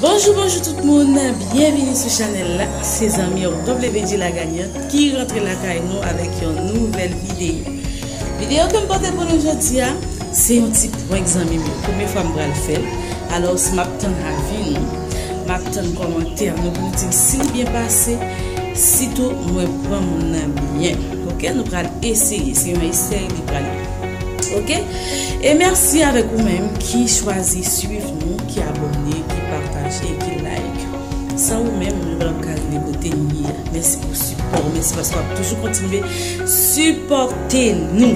Bonjou bonjou tout moun, byenvini sou chanèl la, se zanmi w WD la Gagnant ki rantre lakay nou avèk yon nouvèl videyo. Videyo ke m pote pou nou jodi a, se yon ti prank zanmi m yo, premye fwa m pral fè l, alòs m ap tann avi nou, m ap tann kòmantè nou pou nou di m si li byen pase, sitou mwen pran moun nan byen, ok nou pral eseye, se yon esèy li pral ye. Ok e merci avek ou menm ki chwazi swiv nou ki abone ki pataje ki like san ou menm nou pa ka rive kote nou ye a merci pou sipò merci paske wap toujou kontinye sipòte nou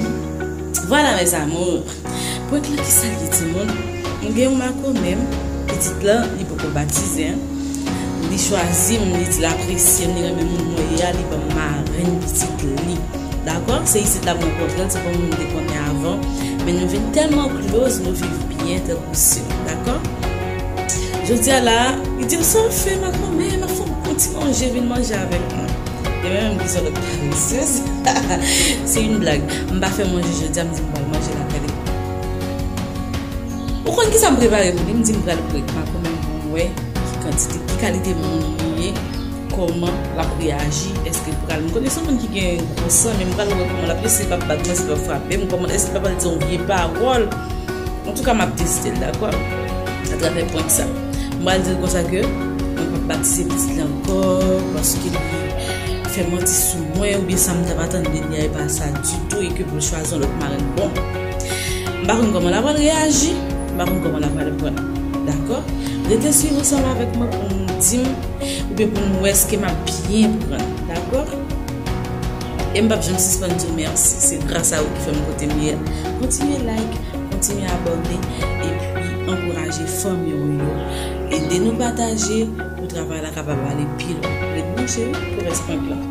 voilà mes amours prank lan kisa li ti moun mwen gen yon mako menm pitit lan li poko batize li chwazi m li di l apresye m li renmen moun mwen ye a li banm marenn pitit li. Dakò, se isit la mwen konprann se pa moun m te konnen avan, men nou vin tèlman close nou viv byen tankou sè. Dakò. Jodi a la a, li di m sa w ap fè makomè, m ap fè w gwo ti manje vin manje avèk mwen. Gen menm m di son lòt paresez. Se yn blag. M pa fè manje jodi a m di m pral manje lakay li. Ou konn kisa m prepare pou li? M di m pral kwek makomè m pou m wè ki kantite, ki kalite moun li ye. Koman lap reaji eske l pral. M konnen son moun ki gen gwo san men m pral wè koman lap reaji si l pap bat mwen si l pap frapem koman eske l pap al di yon vye pawòl antouka map teste l dakò atravè prank sa m pral di l konsa ke mwen pap bat tiye pitit la ankò paske li fè manti sou mwen oubyen sa m tap atann de li a epa sa ditou e ke pou l chwazi yon lòt marenn bon m pa konn koman lap pral reaji m pa konn koman lap pral prann dakò rete swiv ansanm avèk mwen pou n di m. Oubyen pou nou wè ske m ap byen pran. Dakò? E m p ap janm sispann di w mèsi. Se gras a ou ki fè m kote m ye a. Kontinye like, kontinye abòne, epi ankouraje fanmi ou yo. Ede nou pataje pou travay la kapab ale pi lwen. Ret branche pou rès prank lan.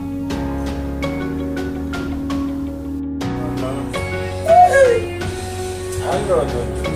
Manman, wouuyy! Alò, Dondonn!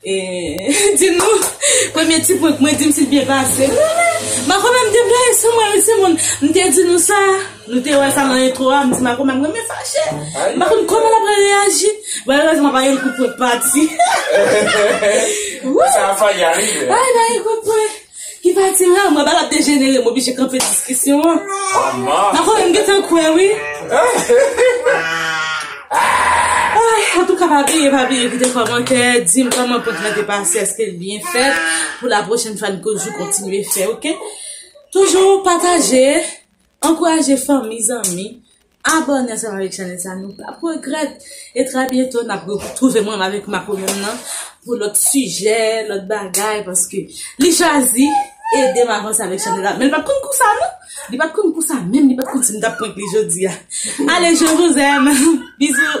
Eehh di nou premye ti prank mwen dim si l byen pase ooh Mako menm te blayi sou mwen wi timoun m te di nou sa nou te wè sa nan entwo a m di Mako menm renmen fache m pa konn kòman l ap reyaji bon erèzman pa gen kout pwen k pati ooh Sa ap fache a rive Ay pa gen kout pwen. Ki pati la? Mwen pa la dejenere, m oblije kanpe diskisyon an. Mako menm gentan kwè wi. Antouka pa bliye, pa bliye kite kòmantè, di m kòman prank lan te pase, èske l byen fèt, pou la pwochèn fwa n toujou kontinye fè ok. Toujou pataje, ankouraje fanmi, zanmi. Abòne ansanm avèk chanèl sa nou pap regrèt e trè byento nap retwouve mwen avèk makomèm nan pou lòt sijè lòt bagay paske li chwazi edem avanse avèk chanèl la men li pat konn konsa non li pat konn konsa menm li pat konn sim tap prank li jodia ale je vous aime bisous.